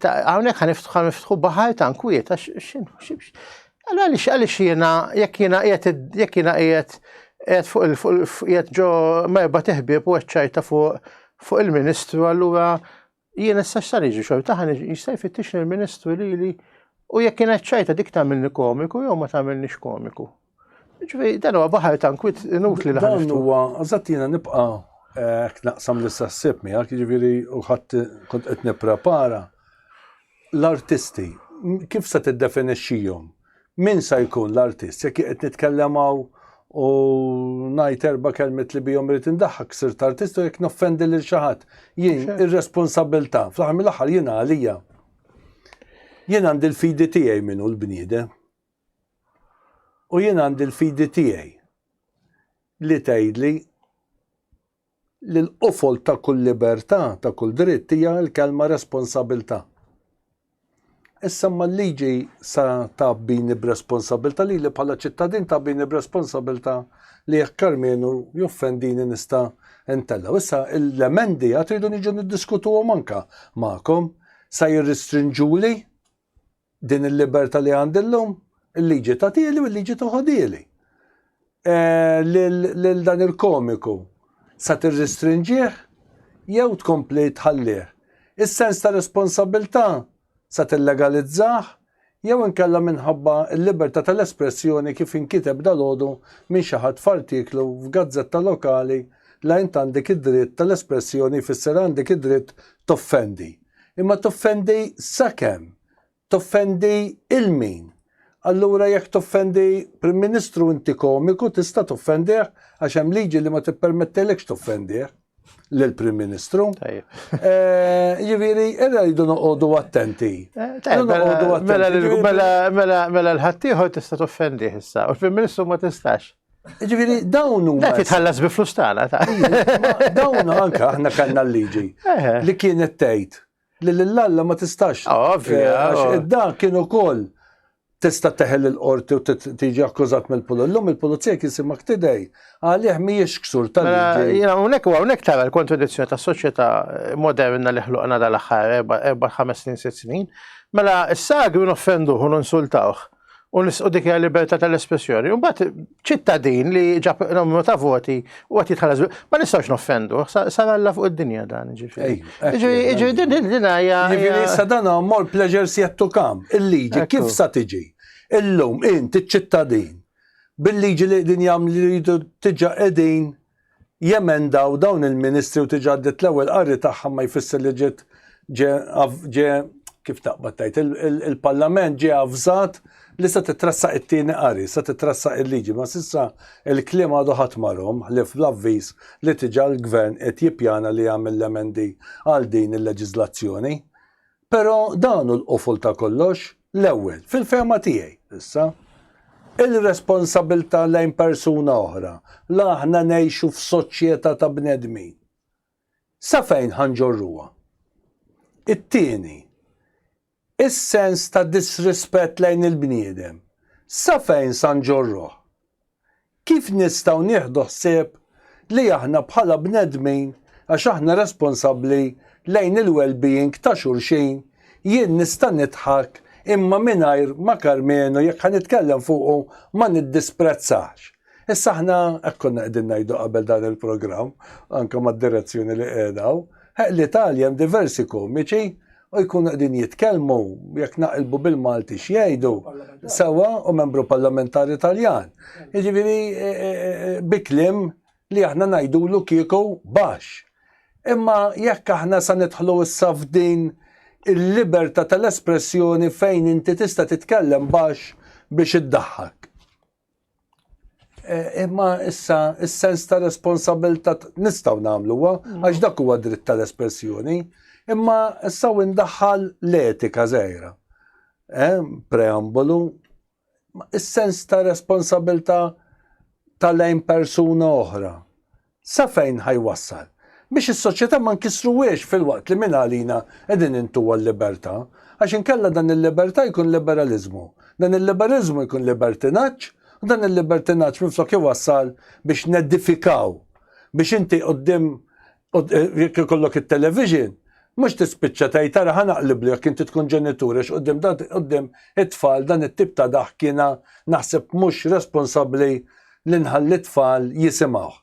B: hawnhekk ħaniftħu niftħu baħar ta' nkwiet għax x'inħossibx. Allora għaliex għaliex jiena jekk jiena qiegħed jekk jiena qiegħed qiegħed fuq il-fuq ġo merba teħbieb u ċċajta fuq fuq il-Ministru allura jien issa x'sar jiġi xorta ħan jista' jfittix il-Ministru lili u jekk kienet ċajta dik tagħmilni komiku jew ma tagħmilniex komiku. Ġifieri dan huwa baħar tankwit inutli li Dan huwa eżatt
A: jiena nibqa' hekk eh, naqsam li sassib miegħek, jiġifieri u ħadd kont qed nipprepara. L-artisti, kif se tiddefinixxihom? Min sa jkun l-artist? Jekk qed nitkellem hawn u ngħid erba' kelmet li bihom irid indaħħak sirt artist u jekk noffendi lil xi ħadd. Jien ir-responsabilità, fl-aħħar mill-aħħar jiena għalija. Jien għandi l-fidi tiegħi minnu l-bniedem U jien għandi l-fidi tiegħi li tgħidli li l-qofol ta' kull libertà, ta' kull dritt hija l-kelma responsabilità. Issa ma l-liġi sa ta' bini b'responsabilità li li bħala ċittadin ta' bini b'responsabilità li jekk Karmenu joffendini nista' intella. Issa l-emendi għat rridu niġu niddiskutuhom anka magħkom sa jirristrinġuli Din il-libertà li għandi llum, il-liġi tagħtili u l-liġi toħodili. Lil dan il-komiku sa tirristrinġih jew tkompli tħallih. Is-sens ta' responsabilità sa tillegalizzah jew inkella minħabba l-libertà tal-espressjoni kif inkiteb dalgħodu minn xi ħadd f'artiklu f'gazzetta lokali la int għandek id-dritt tal-espressjoni jfisser għandek id-dritt toffendi. imma toffendi sakemm toffendi il min? Allura jekk toffendi Prim Ministru inti komiku tista' toffendih għax hemm liġi li ma tippermettilekx toffendih lill prim Ministru. Eh, Ġifieri, irra jridu noqogħdu attenti. Eh, mela, mela,
B: mela, mela l-ħaddieħor tista' toffendih issa, u l-Prim Ministru ma tistax. Ġifiri,
A: dawn huma. Dak titħallas bi flus tagħna
B: ta' Dawn
A: anke aħna kellna l-liġi li kienet tgħid li lill-Alla ma tistax. Ah, ovvja. Eh, għax oh. id-dan kien ukoll tista' teħel il-qorti u tiġi akkużat mill-pulizija. L-lum il-pulizija kien simak tidej għalih mhijiex ksur tal-liġi. Mela, jiena hawnhekk u hawnhekk tara
B: l-kontradizzjoni tas-soċjetà moderna li ħluqna dal-aħħar erba' ħames snin sitt snin. Mela s-sagri noffenduh u nonsultawh u nisqu dik hija libertà tal-espressjoni. Imbagħad ċittadin li ġab numru ta' voti u qed jitħallas ma nistgħux noffendu, sar Alla fuq id-dinja dan ġifieri. Ġifieri din din hija. Ġifieri issa dan
A: mor pleasures yet to come. Il-liġi kif sa tiġi? Illum int iċ-ċittadin bil-liġi li din jagħmlu li jridu tiġa qegħdin jemendaw dawn il-ministri u tiġi għaddiet l-ewwel qari tagħha ma jfisser li ġiet ġie ġie kif taqbad tgħid il-Parlament ġie avżat li se titressaq it-tieni qari, se titressaq il-liġi, ma s'issa il-kliem għadu ħadd marhom ħlief l-avviż li tiġa l-Gvern qed jippjana li jagħmel l-emendi għal din il-leġiżlazzjoni. Però dan hu l-qufol ta' kollox, l-ewwel, fil-fehma tiegħi, issa, il-responsabbiltà lejn persuna oħra, la aħna ngħixu f'soċjetà ta' bnedmin. Sa fejn ħa nġorruha? It-tieni, is-sens ta' disrispett lejn il-bniedem, sa fejn sa nġorruh? Kif nistgħu nieħdu ħsieb li aħna bħala bnedmin, għax aħna responsabbli lejn il-wellbeing ta' xulxin, jien nista' nidħak imma mingħajr ma Karmenu jekk ħa nitkellem fuqu ma niddisprezzax. Issa aħna, hekk konna qegħdin ngħidu qabel dan il-programm, anke mad-direzzjuni li qiegħda hawn, li ta' għaljem diversi komiċi, u jkunu qegħdin jitkellmu jekk naqilbu bil-Malti x'jgħidu sewwa u membru parlamentari Taljan. Jiġifieri e, e, e, biklim li aħna ngħidulu kieku baxx. Imma jekk aħna sa nidħlu issa f'din il-libertà tal-espressjoni fejn inti tista' titkellem baxx biex iddaħħak. Eh, imma issa, is-sens ta' responsabilta nistaw namlu wa, mm. għax dak huwa dritt tal-espressjoni, imma issa indaħħal l-etika zejra. Eh, preambolu, is-sens ta' responsabilta ta' lejn persuna oħra. Sa fejn ħa jwassal? Biex is-soċjetà ma nkissruhiex filwaqt li mingħalina qegħdin intuha l-libertà. Għax inkella dan il-libertà jkun liberaliżmu, dan il-liberaliżmu jkun libertinaġġ u dan il-libertinaġġ minflok iwassal biex nedifikaw, biex inti quddiem jekk ikollok it-television Mhux tispiċċa tgħid ara ħa naqliblu jekk inti tkun ġenitur għax quddiem dan quddiem it-tfal dan it-tip ta' daħk jiena naħseb mhux responsabbli li nħalli t-tfal jisimgħuh.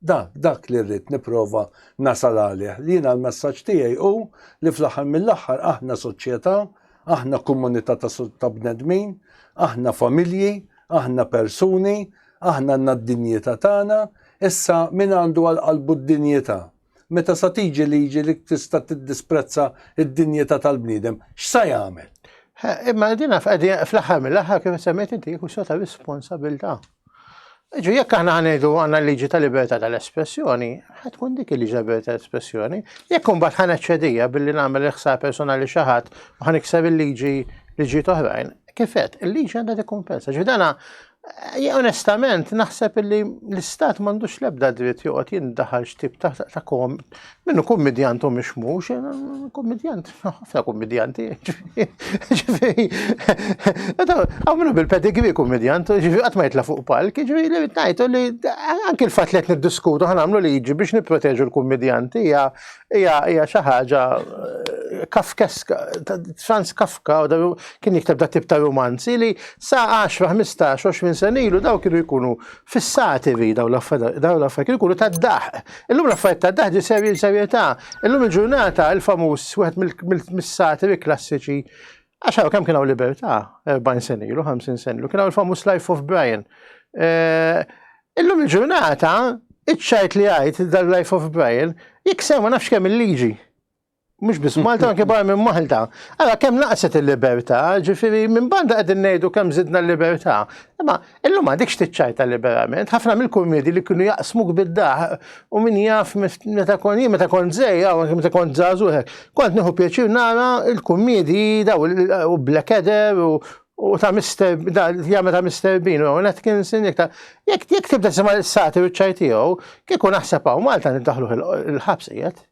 A: Dak, dak li rrid nipprova nasal għalih. Li jiena l-messaġġ tiegħi hu li fl-aħħar mill-aħħar aħna soċjetà, aħna komunità ta' bnedmin, aħna familji, aħna persuni, aħna għandna d-dinjità tagħna, issa min għandu għal qalbu d-dinjità Meta sa tiġi liġi li tista' tiddisprezza d-dinjità tal-bniedem, x'sa jagħmel? Imma
B: din fl-aħħar mill-aħħar kif semmejt inti jkun sota responsabilità. Ġu jekk aħna ħanejdu għandna liġi ta' libertà tal-espressjoni, ħad tkun dik il-liġi ta' libertà tal-espressjoni, jekk imbagħad ħan eċċedija billi nagħmel iħsar personali xi ħadd u ħan ikser il-liġi liġi toħrajn, kifet, il-liġi għandha tikkumpensa. Ġu dana Jien onestament naħseb li l-istat m'għandux l-ebda dritt joqgħod jindaħal x'tip ta' ta' kom minnu kummedjant u mhux mhux, kummedjant, ħafna kummedjanti. Ġifieri, hawn minnu bil-pedigri kummedjant, ġifieri qatt ma jitla' fuq palk, ġifieri li ngħidu li anke l-fatt li qed niddiskutu ħa nagħmlu liġi biex nipproteġu l-kummedjanti hija Ija, ija, xaħġa eh, kafkeska, Franz Kafka kien jikteb da tip ta' romanzi li sa' 10, 15, 20 senilu daw kienu jkunu fissati vi daw l-affarijiet kienu jkunu ta' daħ. Illum l-affarijiet ta' daħ ġi serji serjetà. Illum il-ġurnata il-famuż wieħed mill-satiri klassiċi għaxaw kemm kienu libertà 40 senilu, 50 senilu, kienu il-famuż Life of Brian. Eh, Illum il-ġurnata, iċ-ċajt li jgħid dal life of Brian jikser ma nafx kemm il-liġi. Mhux biss Malta anke barra minn Malta. Ara kemm naqset il-libertà, ġifieri minn banda qegħdin ngħidu kemm żidna l-libertà. Imma illum għadikx tiċċajta liberament, ħafna mill-kurmiedi li kienu jaqsmuk bid-daħ u min jaf meta kon jien meta kont żej, meta kont żagħżugħek, kont nieħu pjaċir nara l-kurmiedi daw u Blackadder u U ta' Mr. jagħmel ta' Mr. Bean u Atkinson jekk ta' jekk jekk tibda sema' l-sati u ċaj tiegħu, kieku naħseb hawn Malta niddaħluh il-ħabs qiegħed.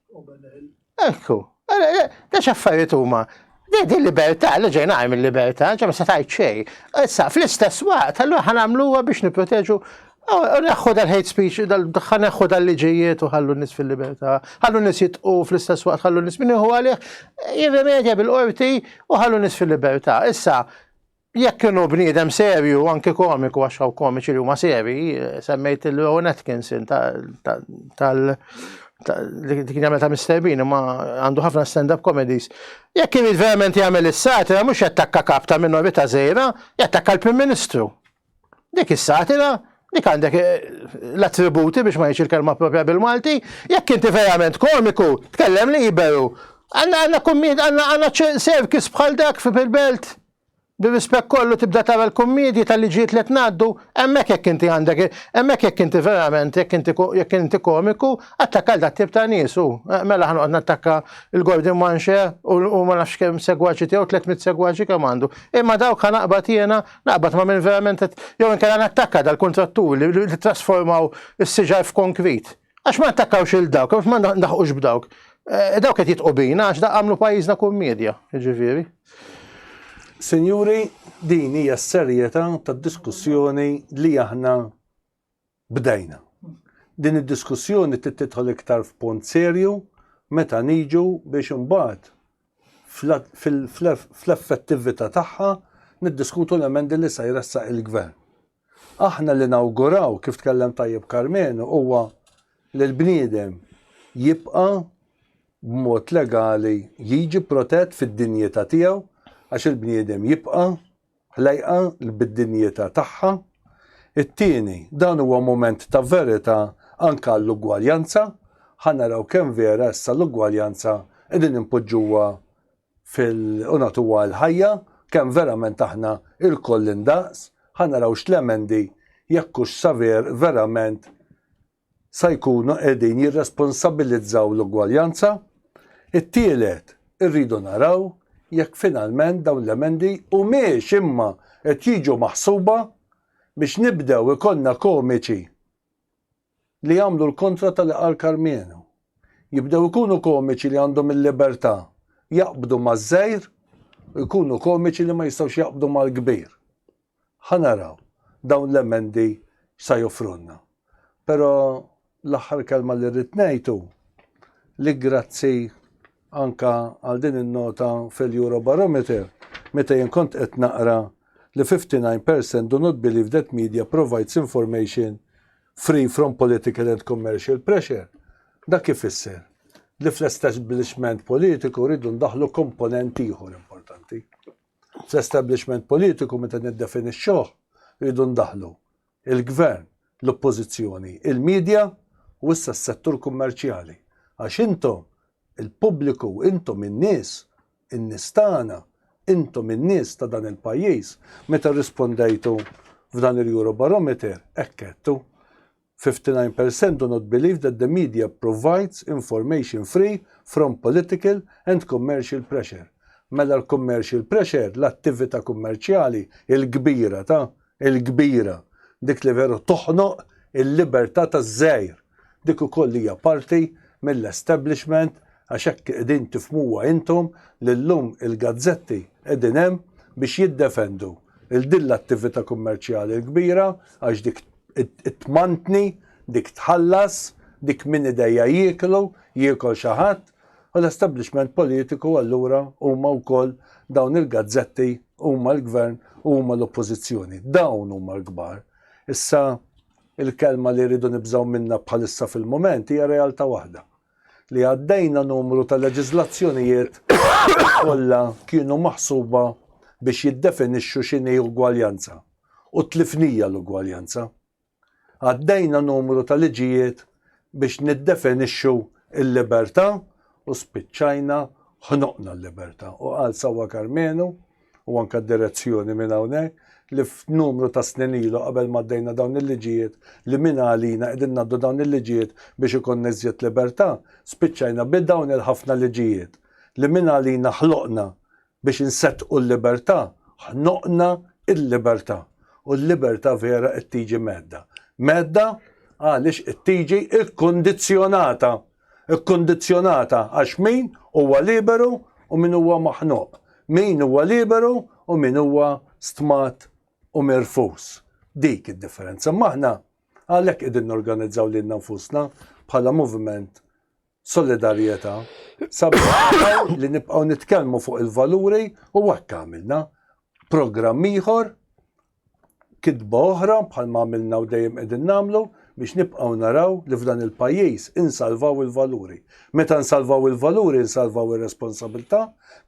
B: Ekku, da x'affarijiet huma. Din libertà li ġejna għajm il-libertà, ġa ma se tgħid xejn. Issa fl-istess waqt allura ħa nagħmluha biex nipproteġu Neħħu dal-hate speech, ħa neħħu dal-liġijiet u ħallu nis fil-libertà, ħallu nis jitqu fl-istess waqt, ħallu nis minn iħu għalih, jirrimedja bil-qorti u ħallu nis fil-libertà. Issa, jekk kienu bniedem serju, anki komiku, għax hawn komiċi li huma seri, semmejt il-Rowan Atkinson tal li kien jagħmel ta' Mr. Bean, ma għandu ħafna stand-up comedies. Jekk kien verament jagħmel is-satra, mhux jattakka kap ta' minorita' żejra, jattakka l-Prim Ministru. Dik is-satira, dik għandek l-attributi biex ma ngħidx il-kelma propja bil-Malti, jekk inti verament komiku, tkellem li jberu. Għandna għandna kummid, għandna għandna serkis bħal dak fil-belt. Bir-rispett kollu tibda tara l-kummidji tal-liġijiet li qed ngħaddu, hemmhekk jekk inti għandek, hemmhekk jekk inti verament, jekk inti jekk inti komiku, attakka l tip ta' nies u mela ħanoqgħod nattakka l-Gordon Manxe u ma nafx kemm segwaċi tiegħu 300 segwaċi kemm għandu. Imma dawk ħanaqbad jiena Naqbad ma' min verament qed jew inkella nattakka dal-kuntrattur li li trasformaw is-siġar f'konkrit. Għax ma nattakkawx il dawk, għax ma naħqux b'dawk. Eh, dawk qed jitqu bina għax da għamlu pajjiżna kummedja, jiġifieri.
A: Sinjuri, din hija s-serjetà tad-diskussjoni li aħna Bdejna. Din id-diskussjoni trid tidħol iktar f'punt serju meta niġu biex imbagħad fl-effettività tagħha niddiskutu l-emendi li se jressaq il-Gvern. Aħna li nawguraw, kif tkellem tajjeb Karmenu, huwa li l-bniedem jibqa' b'mod legali jiġi protett fid-dinjità tiegħu għax il-bniedem jibqa' Lejqa bid-dinjità tagħha. It-tieni, dan huwa mument ta' verità anke għall-ugwaljanza. Ħa naraw kemm vera issa l-ugwaljanza qegħdin inpoġġuha fil u nagħtuha l-ħajja, kemm verament aħna ilkoll indaqs. Ħa naraw x'l-emendi, jekk hux saver verament sa jkunu qegħdin jirresponsabilizzaw l-ugwaljanza, it-tielet, irridu naraw jekk finalment dawn l-emendi humiex imma qed jiġu maħsuba biex nibdew ikollna komiċi li jagħmlu l-kontra ta' li qal Karmenu. Jibdew ikunu komiċi li għandhom il-libertà jaqbdu maż-żgħir u jkunu komiċi li ma jistgħux jaqbdu mal-kbir. Ħa naraw dawn l-emendi x'sa joffrulna. Però l-aħħar kelma li rrid ngħid hu li grazzi anke għal din in-nota fil-Eurobarometer meta jien kont qed naqra li 59 percent do not believe that media provides information free from political and commercial pressure. Dak ifisser li fl-establishment politiku rridu ndaħħlu komponent ieħor importanti. fl-establishment politiku meta niddefinixxuh rridu ndaħħlu il-Gvern, l-Oppożizzjoni, il-media u issa s-settur kummerċjali. Għax intom il-pubbliku, intom in-nies, in-nies tagħna, intom in-nies ta' dan il-pajjiż, meta rrispondejtu f'dan il-Eurobarometer hekk għedtu. 59 per cent do not believe that the media provides information free from political and commercial pressure. Mela l-commercial pressure, l-attivita' kummerċjali, il-kbira ta', il-kbira, dik li veru toħnoq il-liberta' taż-żgħir, dik ukoll hija parti mill-establishment għax hekk qegħdin tifhmuha intom li llum il-gazzetti qegħdin hemm biex jiddefendu 'l din l-attivita' kummerċjali l-kbira għax dik tmantni, dik tħallas, dik min idejja jieklu, jiekol xi ħadd, u l-establishment politiku allura huma wkoll dawn il-gazzetti huma l-gvern u huma l-oppożizzjoni. Dawn huma l-kbar. Issa il-kelma li rridu nibżgħu minnha bħalissa fil-mument hija realtà waħda. li għaddejna numru ta' leġiżlazzjonijiet li kollha kienu maħsuba biex jiddefinixxu x'inhi ugwaljanza u tlifnija l-ugwaljanza. Għaddejna numru ta' liġijiet biex niddefinixxu l-libertà u spiċċajna ħnoqna l-libertà. U qal sewwa Karmenu, u anke d-direzzjoni minn hawnhekk, li f'numru ta' snin ilu qabel ma għaddejna dawn il-liġijiet li mina għalina qegħdin ngħaddu dawn il-liġijiet biex ikollna iżjed libertà, spiċċajna bi dawn il-ħafna liġijiet li mina għalina ħloqna biex inseddqu l-libertà, ħnoqna l-libertà. U l-libertà vera qed tiġi mhedda. Mhedda għaliex qed tiġi kkundizzjonata. Ikkundizzjonata għax min huwa liberu u min huwa maħnuq, min huwa liberu u min huwa stmat u mirfus. Dik id-differenza. Imma aħna għalhekk qegħdin norganizzaw lilna nfusna bħala moviment Solidarjetà sabiex naraw li nibqgħu nitkellmu fuq il-valuri u hekk għamilna. Programm ieħor kitba oħra, bħalma għamilna u dejjem qegħdin nagħmlu, biex nibqgħu naraw li f'dan il-pajjiż insalvaw il-valuri. Meta nsalvaw il-valuri nsalvaw ir-responsabilità,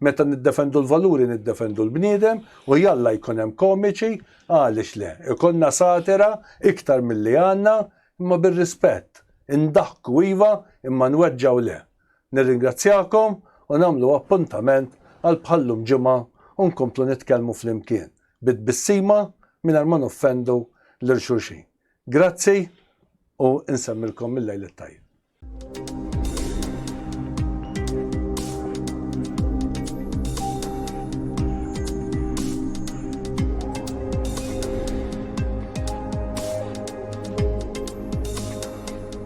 A: meta niddefendu l-valuri niddefendu l-bniedem u jalla jkun hemm komiċi, għaliex le, ikollna satira iktar milli għandna imma bir-rispett. Indaħku iva imma nweġġgħu le. Nirringrazzjakom u nagħmlu appuntament għal bħal-lum Ġimgħa u nkomplu nitkellmu flimkien, bi tbissima mingħajr ma noffendu lil xulxin. Grazzi u nsemmilkom il-lejl it-tajjeb.